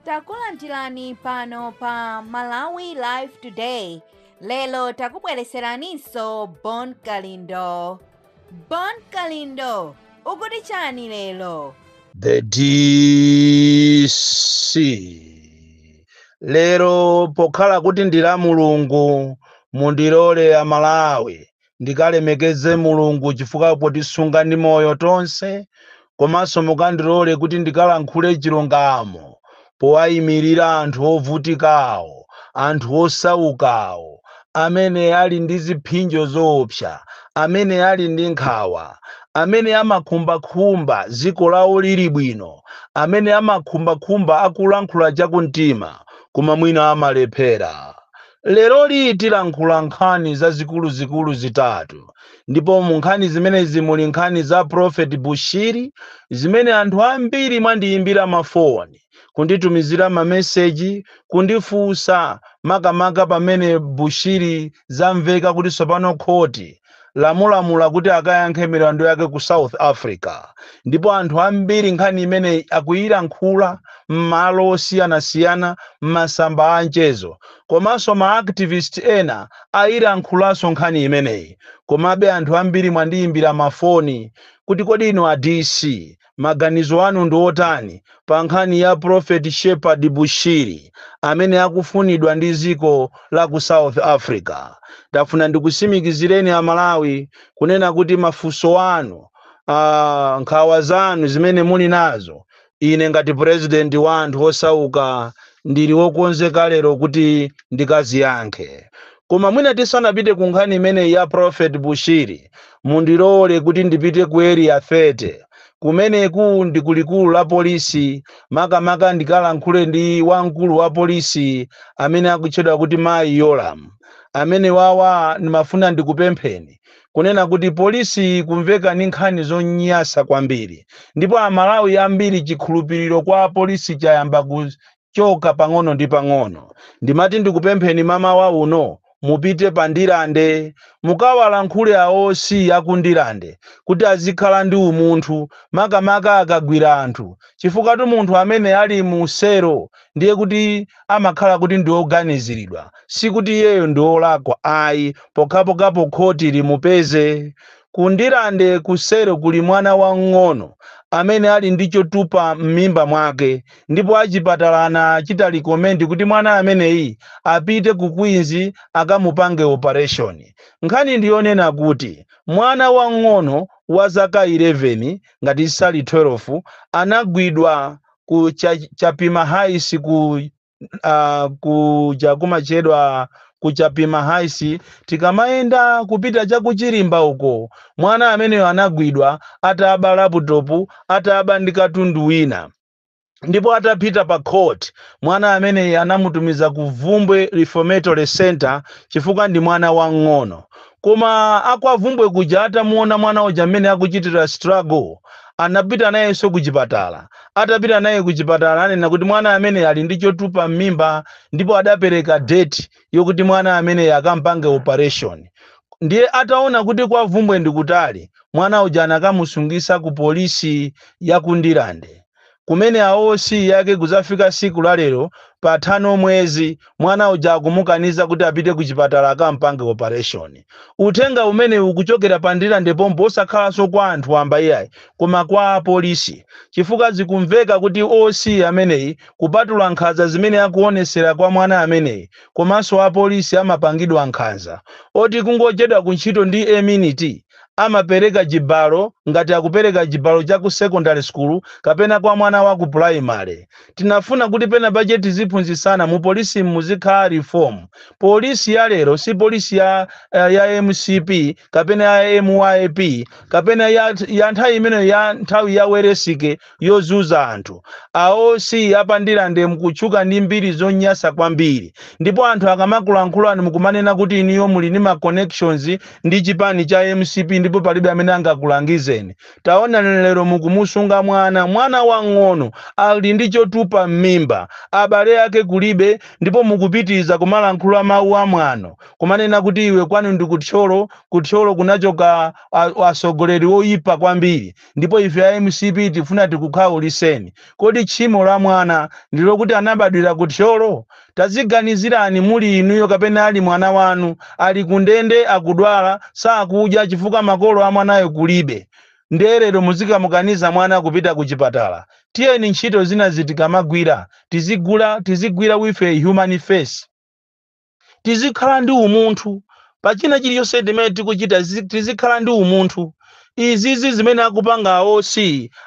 takulandirani pano pa malawi live today lero takubweretseraninso bon kalindo bon kalindo ukuti chani lero the dc lero pokhala kuti ndi la mulungu mundilole amalawi ndikalemekeze Mulungu chifukwa potisunga ndi moyo tonse, komanso mukandilole kuti ndikalankhule chilungamo powayimirira anthu ovutikawo, anthu osaukawo, amene ali ndi ziphinjo zoopsa, amene ali ndi nkhawa, amene amakhumbakhumba dziko lawo lili bwino, amene amakhumbakhumba akulankhula chakumtima koma mwina amalephera. Leroli tilankhula nkhani zazikuluzikulu zitatu ndipo mu nkhani zimenezi muli nkhani za Prophet Bushiri zimene anthu ambiri mwandiyimbira ma foni, kunditumizira ma message, kundifunsa makamaka pamene Bushiri zamveka kuti tsopano khoti. lalamula kuti akayankhe milandu yake ku south africa ndipo anthu ambiri nkhani imeneyi akuyilankhula m'malo osiyanasiyana m'masamba a mchezo komanso ma activist ena ayilankhulanso nkhani imeneyi komabe anthu ambiri mwandiyimbira mafoni kuti kodi inu a dc Maganizo anu ndi otani pa nkhani ya prophet Shepherd Bushiri amene akufunidwa ndi dziko la ku South Africa? Ndafuna ndikusimikizireni a Malawi kunena kuti mafunso anu, aah, nkhawa zanu zimene muli nazo, ine ngati president wa anthu osauka ndili okonzeka lero kuti ndikaziyankhe. Koma mwina tisanapite ku nkhani imeneyi ya Prophet Bushiri, mundilole kuti ndipite ku Area 30, kumeneku ndi ku likulu la polisi, makamaka ndikalankhule ndi wamkulu wa polisi amene akutchedwa kuti Mayi Yolamu. Amenewawa ndimafuna ndikupempheni kunena kuti polisi kumveka ni nkhani zonyasa kwambiri ndipo a Malawi ambiri chikhulupiliro kwa polisi chayamba ku choka pang'ono ndi pang'ono. Ndimati ndikupempheni mamawa uno mupite pa Ndirande mukawalankhule a OC aku Ndirande kuti azikhala ndi umunthu makamaka akagwira anthu chifukwatu munthu amene ali mu selo ndiye kuti amakhala kuti ndi oganiziridwa sikuti iyeyo ndi olakwa ayi pokhapokha khoti limupeze Ku Ndirande kuselo kuli mwana wamng'ono amene ali ndi chotupa m'mimba mwake ndipo achipatala anachita recommend kuti mwana ameneyi apite ku Queens akamupange operation. Nkhani ndi yonena kuti mwana wamng'ono wa zaka 11 ngati sali 12 anagwidwa ku Chapima Heights. uh, kuja kumatchedwa ku Chapima Heights tikamayenda kupita cha ku Chirimba uko mwana ameneyo anagwidwa ataba laputopu ataba ndi katundu wina ndipo atapita pa court mwana ameneyi anamutumiza ku Bvumbwe Reformatory Center chifukwa ndi mwana wang'ono koma a kwa Bvumbwe kuja atamuona mwana uja mmene akuchitira struggle anapita nayenso ku chipatala Atapita naye kuchipatala ananena kuti mwana ameneyi ali ndi chotupa m'mimba ndipo adapereka date yokuti mwana ameneyi akampange operation. Ndiye ataona kuti kwa Bvumbwe ndi kutali, mwana uja anakamusungisa ku polisi ya ku Ndirande. Kumene a OC ake kudzafika siku la lero patha mwezi Mwana uja akumukaniza kuti apite kuchipatala akampange operation. Uthenga umenewu ukuchokera pa Ndirande pompo osakhalanso kwa anthu wamba iyayi koma kwa apolisi chifukwa zikumveka kuti OC ameneyi kupatula nkhanza zimene akuonetsera kwa mwana ameneyi komanso apolisi amapangidwa nkhanza oti kungochedwa ku ntchito ndi a minute amapereka chibalo ngati akupereka chibalo cha ku secondary school kapena kwa mwana wa ku primary. Tinafuna kuti pena pache tiziphunzitsana mu polisimu muzikhala reform. Polisi ya lero si polisi ya eh, ya mcp kapena ya myp kapena ya, ya nthawi imeneyo ya nthawi ya Welensky yozunza anthu a OC a pa Ndirande mukutchuka ndi mbiri zonyasa kwambiri ndipo anthu akamakulankhulani mukumanena kuti inuyo muli ndi ma connections ndi chipani cha mcp ndipo palibe amene angakulangizeni Taonani lero mukumusunga mwana, mwana wang'ono, ali ndi chotupa mmimba, abale ake kulibe, ndipo mukupitiriza kumalankhula mawu a mwano, kumanena kuti iwe kwanu ndi ku Thyolo, ku Thyolo kunachoka a, atsogoleri oyipa kwambiri, ndipo ife a mcp tifuna tikukhawulitseni. Kodi tchimo la mwana ndi lokuti anabadwira ku Thyolo? Tadziganizirani muli inuyo kapena ali mwana wanu, ali kundende akudwala, sakudya chifukwa makolo a mwanayo kulibe, nde lero muzikamukaniza mwana kupita kuchipatala? Tiyeni ntchito zinazi tikamagwira tizigula tizigwira with a human face. Tizikhala ndi umunthu pa china chilichonse timene tikuchita zi- tizikhala ndi umunthu izizi zimene akupanga a OC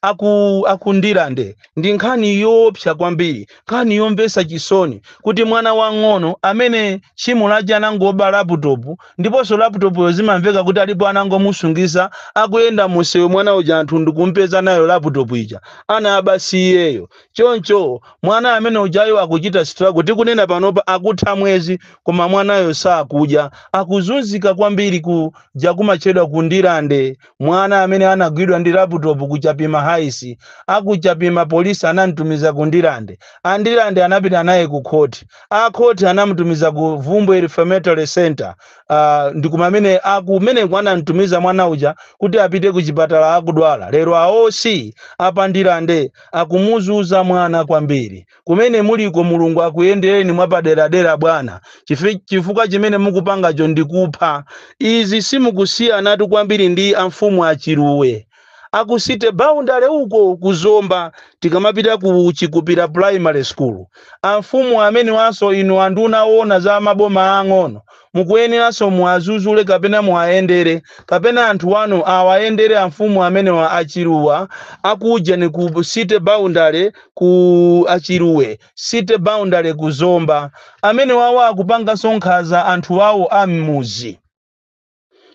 aku a ku Ndirande ndi nkhani yoopsa kwambiri nkhani yomvesa chisoni kuti mwana wang'ono amene tchimo lake anangooba laputopu ndiponso laputopuyo zimamveka kuti alipo anangomusungisa akuyenda musewu mwana uja anthu ndikumpeza nayo laputopu ija anaba si iyeyo choncho mwana amene ujayo akuchita struggle tikunena panopa akutha mwezi koma mwanayo sakudya akuzunzika kwambiri kuja kumatchedwa ku Ndirande mwana amene anagwidwa ndi laputopu ku chapima Heights akuchapima polisi anamtumiza ku Ndirande a Ndirande anapita naye ku khoti akhoti anamutumiza ku Bvumbwe reformatory center ah, ndi kumene akumeneko anamtumiza mwana uja kuti apite ku chipatala akudwala lero a OC a pa Ndirande akumuzuza mwana kwambiri kumene muliko mulungu akuyendereni mwapaderadera bwana Chifi- chifukwa chimene mukupangacho ndikupha izi simukusiyanatu kwambiri ndi amfumu a Chiluwe aku city boundary uko ku zomba tikamapita ku chikupira primary school amfumu amenewanso inu anduna owona za maboma aang'ono mukuyeneranso muwazuzule kapena muwayendere kapena anthu wanu awayendere amfumu amenewa a Chiluwe akuujeni ku city boundary ku a Chiluwe city boundary ku zomba amenewawo akupanganso nkhaza anthu awo a m'muzi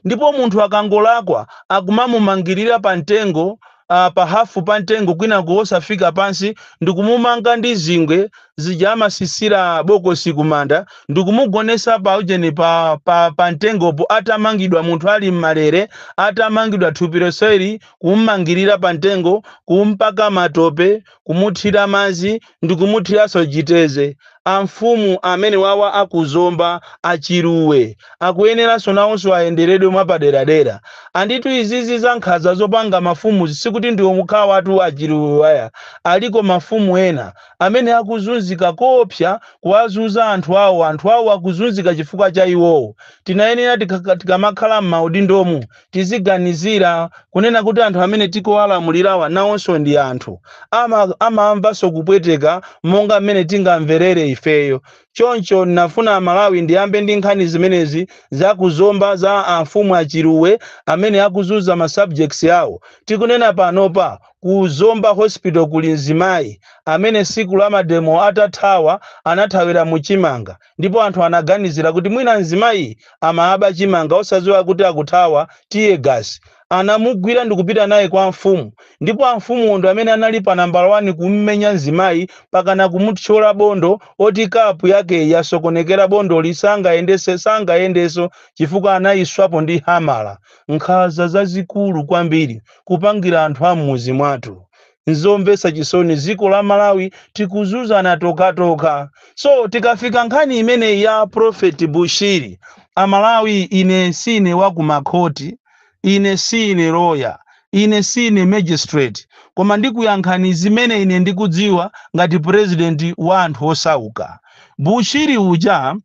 ndipo munthu akangolakwa akumamumangirira pa mtengo uh, pa hafu pa mtengo kwinaku wosafika pansi ndikumumanga ndi zingwe zija amasisira bokosi kumanda ndikumugonesa pa ujeni pa, pa, pa mtengopo atamangidwa munthu ali m'malere atamangidwa thupi lonseli kumumangirira pa mtengo kumpaka matope kumuthira madzi ndikumuthiranso chiteze. Amfumu amenewawa a ku Zomba, a Chiluwe, akuyeneranso nawonso ayenderedwe mwapaderadera. Anditu izizi za nkhaza zopanga mafumu sikuti ndiwo okhawatu a Chiluwewa ayi, aliko mafumu ena amene akuzunzika koopsa kuwazuza anthu awo, anthu awo akuzunzika chifukwa cha iwowo. Tinayenera tikamakhala m'maudindomu tiziganizira kunena kuti anthu amene tikuwalamulirawa nawonso ndi anthu ama, amamvanso kupweteka monga mmene tingamverere ifeyo choncho ndinafuna amalawi ndiyambe ndi nkhani zimenezi za ku Zomba za amfumu a Chiluwe amene akuzunza ma subjects awo tikunena panopa ku zomba hospital kuli mzimayi amene siku la mademo atathawa anathawira mu chimanga ndipo anthu anaganizira kuti mwina mzimayi amaba chimanga osaziwa kuti akuthawa tiye gasi. Anamugwira ndikupita naye kwa amfumu ndipo amfumuwo ndi amene anali pa nambala wani kummenya mzimayi mpakana kumuthyola bondo oti kapu yakeyi yasokonekera bondoli sangayende sangayendeso chifukwa anayiswapo ndi hamala. Nkhaza zazikulu kwambiri kupangira anthu a mmuzi mwathu. Nzomvetsa chisoni ziko la Malawi tikuzuzana tokhatokha so tikafika nkhani imeneyi ya prophet Bushiri amalawi ine siine wa kumakhoti ine siine lawyer ine siine magistrate koma ndikuyankhani zimene ine ndikudziwa ngati president wa anthu osauka Bushiri uja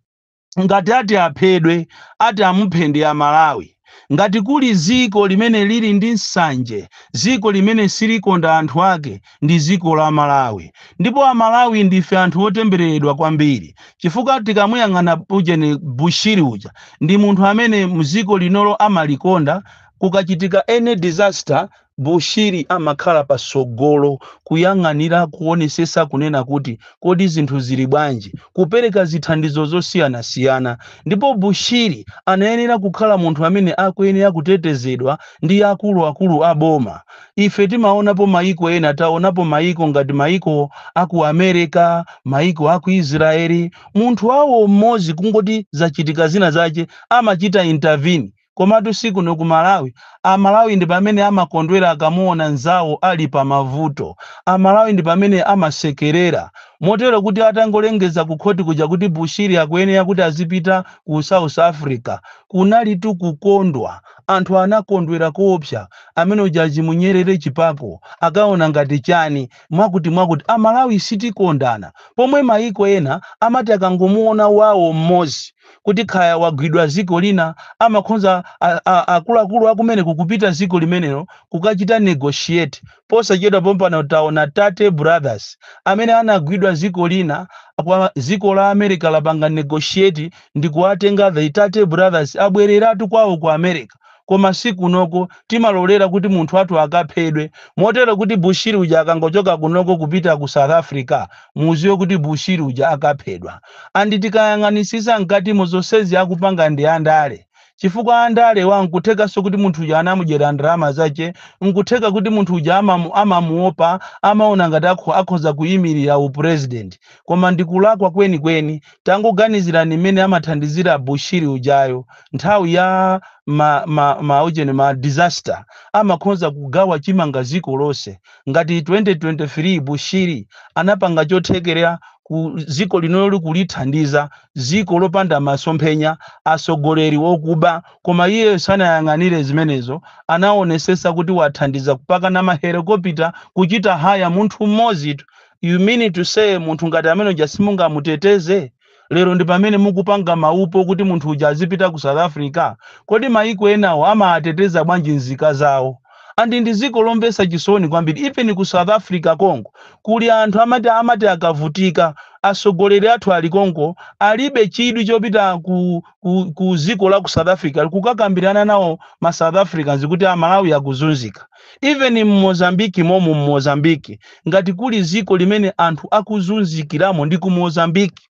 ngati ati aphedwe ati amuphe ndi amalawi ngati kuli ziko limene lili ndi nsanje ziko limene silikonda anthu ake ndi ziko la malawi ndipo amalawi ndife anthu otembereredwa kwambiri chifukwa tikamuyang'ana ujeni bushiri uja ndi munthu amene mziko linolo amalikonda kukachitika any disaster Bushiri amakhala patsogolo kuyang'anira kuonesetsa kunena kuti kodi zinthu zili bwanji, kupereka zithandizo zosiyanasiyana ndipo Bushiri anayenera kukhala munthu amene akuyenera kutetezedwa ndi akulu akulu a boma. Ife timaonapo maiko ena taonapo maiko ngati maiko a ku America, maiko a ku Israel, munthu wawo m'modzi kungoti zachitika zina zache amachita intervene. Komatu si kuno ku Malawi. A Malawi ndi pamene amakondwera akamuona nzawo ali pa mavuto. A Malawi ndi pamene amasekerera. Motero kuti atangolengeza ku khoti kuja kuti Bushiri akuyenera kuti azipita ku South Africa, kunalitu kukondwa. Anthu anakondwera koopsa. Amene uja azimunyerere chipako, akaona ngati chani, mwakutimwakuti. A Malawi sitikondana. Pomwe mayiko ena amati akangomuona wawo m'modzi. kuti kaya wagwidwa ziko lina amakhonza a, a, akuluakulu akumeneko kupita ziko limenelo kukachita negotiate posachedwa pompano taona tate brothers amene anagwidwa ziko lina kwa ziko la america lapanga negotiate ndikuwatenga the tate brothers abwereratu kwawo ku america koma si kunoko timalolera kuti munthu wathu akaphedwe motero kuti bushiri uja akangochoka kunoko kupita ku south africa muziwe kuti bushiri uja akaphedwa andi tikayang'anisisa mkatimo zonsezi akupanga ndi andale chifukwa andalewa nkuthekanso kuti munthu uja anamudyera ndalama zache nkutheka kuti munthu uja amamu, amamuopa amaona ngati akho, akhoza kuyimirira upresident koma ndikulakwa kwenikweni Tangoganizirani mmene amathandizira Bushiri ujayo nthawi ya ma ma ma ujeni ma disaster amakhonza kugawa chimanga ziko lonse ngati 2023 Bushiri anapanga chothekera ku ziko linoli kulithandiza ziko lopanda masomphenya asogoleri okuba koma iyeyo sanayang'anire zimenezo anawonesesa kuti wathandiza kupakana ma helicopter kuchita hire munthu mmodzitu You mean to say munthu ngati amene uja simungamuteteze? Lero ndi pamene mukupanga maupo kuti munthu uja azipita ku South Africa? Kodi maiko enawo amaateteza bwanji nzika zawo? And ndi ziko lomvesa chisoni kwambiri even ku South Africa konko kuli anthu amati amati akavutika asogoleri athu ali konko alibe chidwi chopita ku, ku, ku ziko la ku South Africa kukakambirana nawo ma South Africans kuti a Malawi akuzunzika. even mmozambique momu mmozambique ngati kuli ziko limene anthu akuzunzikilamo ndi ku mozambique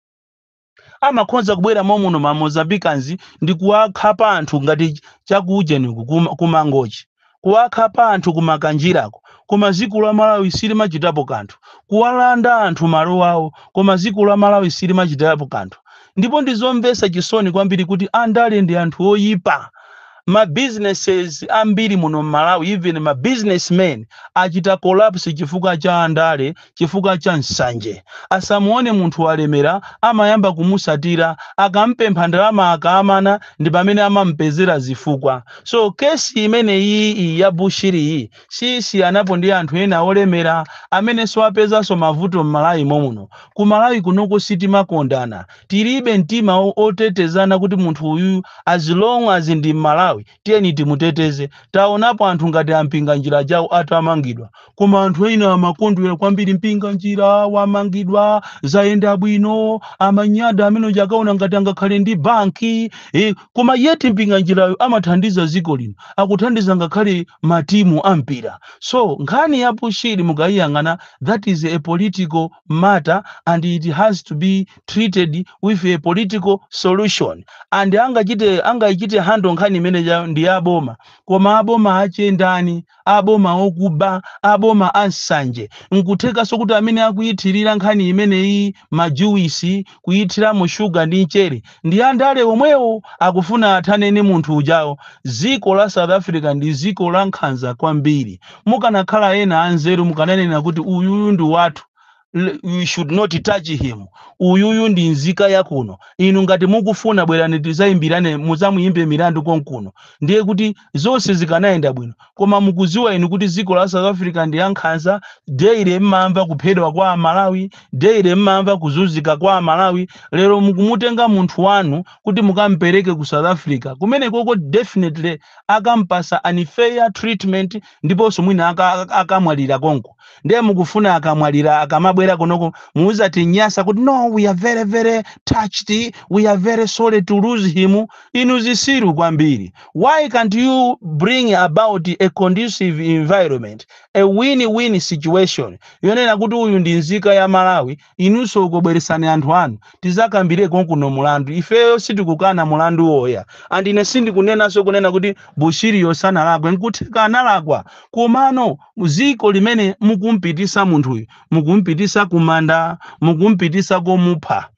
amakhonza kubwera momuno ma mozambicans ndi kuwakhapa anthu ngati chakuujeniku kuma- kumangochi kuwakhapa anthu kumakanjirako koma ziko la malawi silimachitapo kanthu kuwalanda anthu malo awo koma ziko la malawi silimachitapo kanthu ndipo ndizomvesa chisoni kwambiri kuti andale ndi anthu oyipa Ma businesses ambiri muno mmalawi even ma business men achita collapse chifukwa cha andale chifukwa cha nsanje. Asamuone munthu walemera amayamba kumusatira akampempha ndalama akaamana ndipamene amamupezera zifukwa. So case imeneyiyi ya Bushiri yi siyisiyanapo ndi anthu ena olemera amenenso apezanso mavuto mmalawi momuno. Ku Malawi kunoko sitimakondana. tilibe mtima otetezana kuti munthu uyuyu as long as ndi mmalawi tiyeni timuteteze taonapo anthu ngati ampinganjira ajawo atamangidwa koma anthu ena amakondwera kwambiri mpinganjira wamangidwa zayenda bwino amanyada amene uja akaona ngati angakhale ndi banki eh, koma yeti mpinganjirayo amathandiza ziko lino akuthandiza ngakhale matimu ampira so nkhani ya bushiri mukayiyang'ana that is a political matter and it has to be treated with a political solution and angachite angaichite handle nkhani imeneyo ndi aboma koma aboma achendani aboma okuba aboma ansanje nkuthekanso kuti amene akuyithirira nkhani imeneyi majuwisi kuyithiramo sugar ndi nchere ndi andale omwewo akufuna athane ndi munthu ujayo ziko la south africa ndi ziko la nkhanza kwambiri mukanakhala ena anzeru mukananena kuti uyuyu ndi wathu L- you should not touch him uyuyu ndi nzika yakuno inu ngati mukufuna bwerani tizayimbirane muzamuyimbe milandu konkuno ndiye kuti zonse zikanayenda bwino koma mukuziwa inu kuti dziko la south africa ndi lankhanza daily mmamva kuphedwa kwa amalawi daily mmamva kuzunzika kwa amalawi lero mukumutenga munthu wanu kuti mukampereke ku south africa kumene koko definitely akampasa unfair treatment ndiponso mwina aka- aka- akamwalira konko ndiye mukufuna akamwalira akamabwera konoko muzatinyasa kuti no we are very very touched we are very sorry to lose him inu zisiru kwambiri Why can't you bring about a conducive environment, a win-win situation yonena kuti uyu ndi nzika ya Malawi, inunso uko bweretsani anthu anu tizakambire konkuno mulandu. Ifeyo sitikukana mulandu oyayi and ine sindikunenanso kunena kuti Bushiriyo sanalakwe, nkutheka analakwa komano dziko limene mukumpitisa munthuyu, mukumpitisa kumanda, mukumpitisa komupha.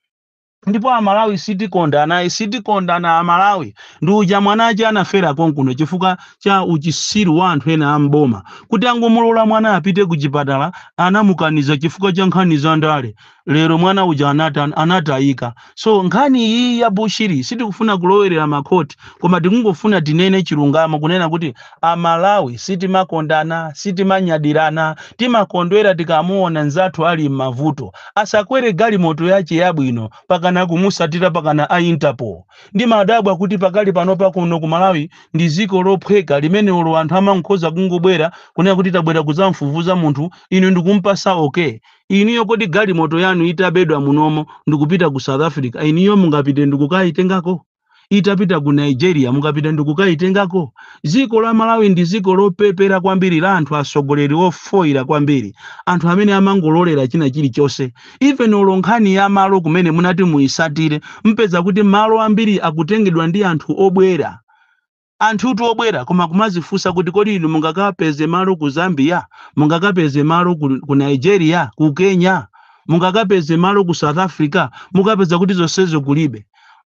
ndipo amalawi sitikondana sitikondana amalawi ndi uja mwana ace anafera konkuno chifukwa cha uchisiru wa anthu ena am'boma kuti angomulola mwana apite ku chipatala anamukaniza chifukwa cha nkhani za ndale lero mwana uja anata, anatayika so nkhani iyi ya bushiri sitikufuna kulowerera makhoti koma tikungofuna tinene chilungamo kunena kuti Amalawi sitimakondana, sitimanyadirana, timakondwera tikamuona nzathu ali mmavuto. Asakwere galimoto yache yabwino pakana kumusatira pakana a Interpol. Ndimadabwa kuti pakali panopa kuno ku Malawi ndi ziko lophweka limene olo anthu amankhoza kungobwera kunena kuti tabwera kuzamfufuza munthu inu ndikumpasa okay. Inuyo kodi galimoto yanu itabedwa munomo ndikupita ku South Africa inuyo mungapite ndikukaitengako? itapita ku Nigeria mungapite ndikukaitengako? Dziko la Malawi ndi dziko lopepera kwambiri la anthu atsogoleri ofoira kwambiri, anthu amene amangololera china chilichonse. Even olo nkhani ya malo kumene munati muisatire, mpeza kuti malo ambiri akutengedwa ndi anthu obwera. Anthutu obwera koma kumazifunsa kuti kodi inu mungakapeze malo ku Zambia? Mungakapeze malo ku, ku Nigeria, ku Kenya? Mungakapeze malo ku South Africa? Mukapeza kuti zonsezo kulibe.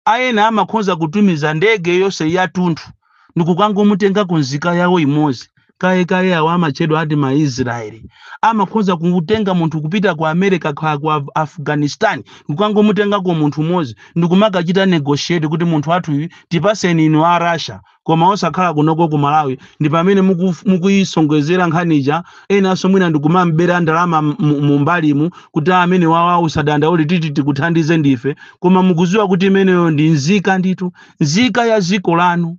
Aena amakhoza kutumiza ndege yonse yatunthu ndikukangomutengako nzika yawo imodzi. kaya kaya awa amatchedwa ati ma israeli amakhoza kutenga munthu kupita ku america kha ku Af- afghanistan kukangomutengako munthu mmodzi ndikumakachita negotiate kuti munthu wathu uyu tipaseni inu a russia koma osakhala kunoko ku malawi ndi pamene muku- mukuyisonkhezera nkhani ija enanso mwina ndikumambera ndalama m- mu- mu mbalimu kuti amene wawa usadandaule titi tikuthandize ndife koma mukuziwa kuti imeneyo ndi nzika ndithu nzika ya dziko lanu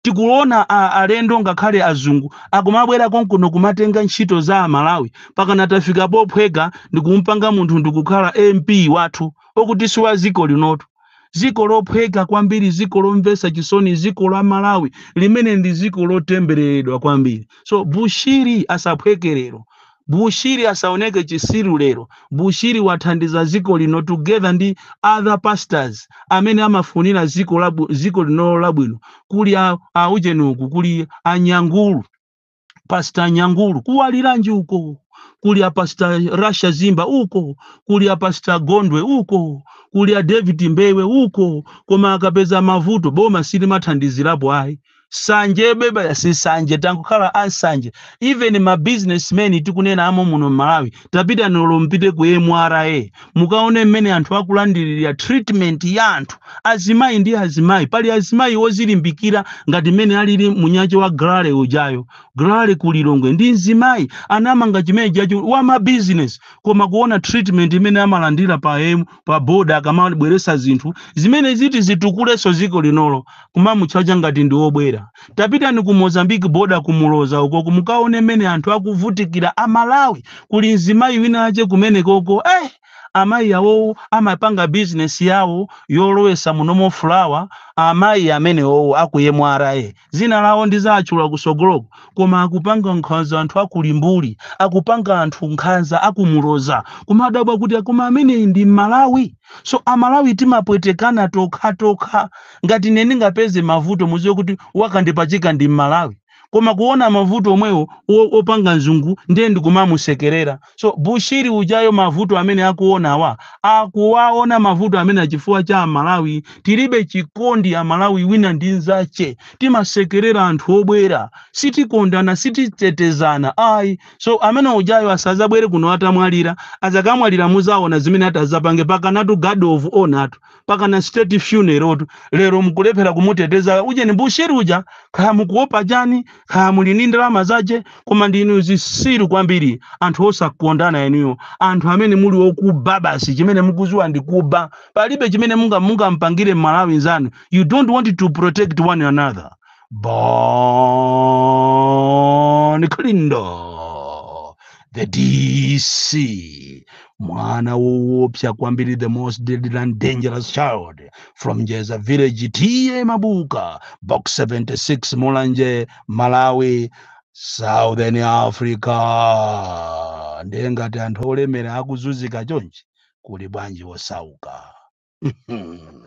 tikuona alendo ngakhale azungu akumabwera konkuno kumatenga ntchito za amalawi pakana tafika pophweka ndikumpanga munthu ndikukhala mp wathu okuti si wa ziko linotu ziko lophweka kwambiri ziko lomvesa chisoni ziko la malawi limene ndi ziko lotembereredwa kwambiri so bushiri asaphwekerero Bushiri asaoneke chisiru lero, Bushiri wathandiza ziko lino together ndi other pastors amene amafunira ziko labw ziko linolo labwino kuli a a ujeni uku kuli a Nyangulu, pastor Nyangulu kuwaliranji uko kuli a pastor Rasha Zimba uko kuli a pastor Gondwe uko kuli a David Mbewe uko koma akapeza mavuto boma silimathandizirapo ayi sanje bebaya sisanje tankukhala ansanje even ma businessmen tikunena amo muno mmalawi tapitani mpite ku mra mukaone mmene anthu akulandirira treatment ya anthu azimayi ndi azimayi pali azimayi ozilimbikira ngati mmene alili munyache wa grale ujayo grale ku lilongwe ndi mzimayi anamanga chimene chacho wa ma business koma kuona treatment imene amalandira pa pa boda akamabweresa zinthu zimene ziti zitukulenso ziko linolo kumamutchaja ngati ndi obwera tapitani ku mozambique boda ku Muloza ukoko mukaone mmene anthu akuvutikira amalawi kuli mzimayi winawache kumenekoko eh, amayi awowo amapanga bizinesi yawo yolowesa munomo fulawa amayi amenewowo akuyemwara Zina lawo ndizachula kusogoloku koma akupanga nkhanza anthu aku Limbuli akupanga anthu nkhanza aku Muloza kumadabwa kuti akoma ameneyi ndi mmalawi so amalawi timapwetekana tokhatokha ngati ine ndingapeze mavuto muziwe kuti wakandipachika ndi mmalawi koma kuona mavuto omwewo opanga nzungu ndiye ndikumamusekelera So Bushiri ujayo mavuto amene akuonawa akuwaona mavuto amene achifukwa cha Amalawi tilibe chikondi Amalawi wina ndi nzache timasekerera anthu obwera sitikondana sititetezana ayi so amene ujayo asazabwere kuno atamwalira azakamwalira muzaona zimene atazapange pakanatu guard of honor tu pakana state funeral tu lero mukulephera kumuteteza ujeni bushiri uja kaya mukuopa chani kaya muli ndi ndalama zache koma ndinu zisiru kwambiri anthu osakondana enuyo anthu amene muli okuba basi chimene mukuziwa ndi kuba palibe chimene munga mungampangire mmalawi nzanu you don't want to protect one another Bon Kalindo, the DC, mwana woopsa kwambiri, the most deadly and dangerous child from Njeza village, TA Mabuka, box 76, Mulanje, Malawi, Southern Africa. Ndiye ngati anthu olemera akuzunzika chonchi, kuli bwanji osauka? Hmm.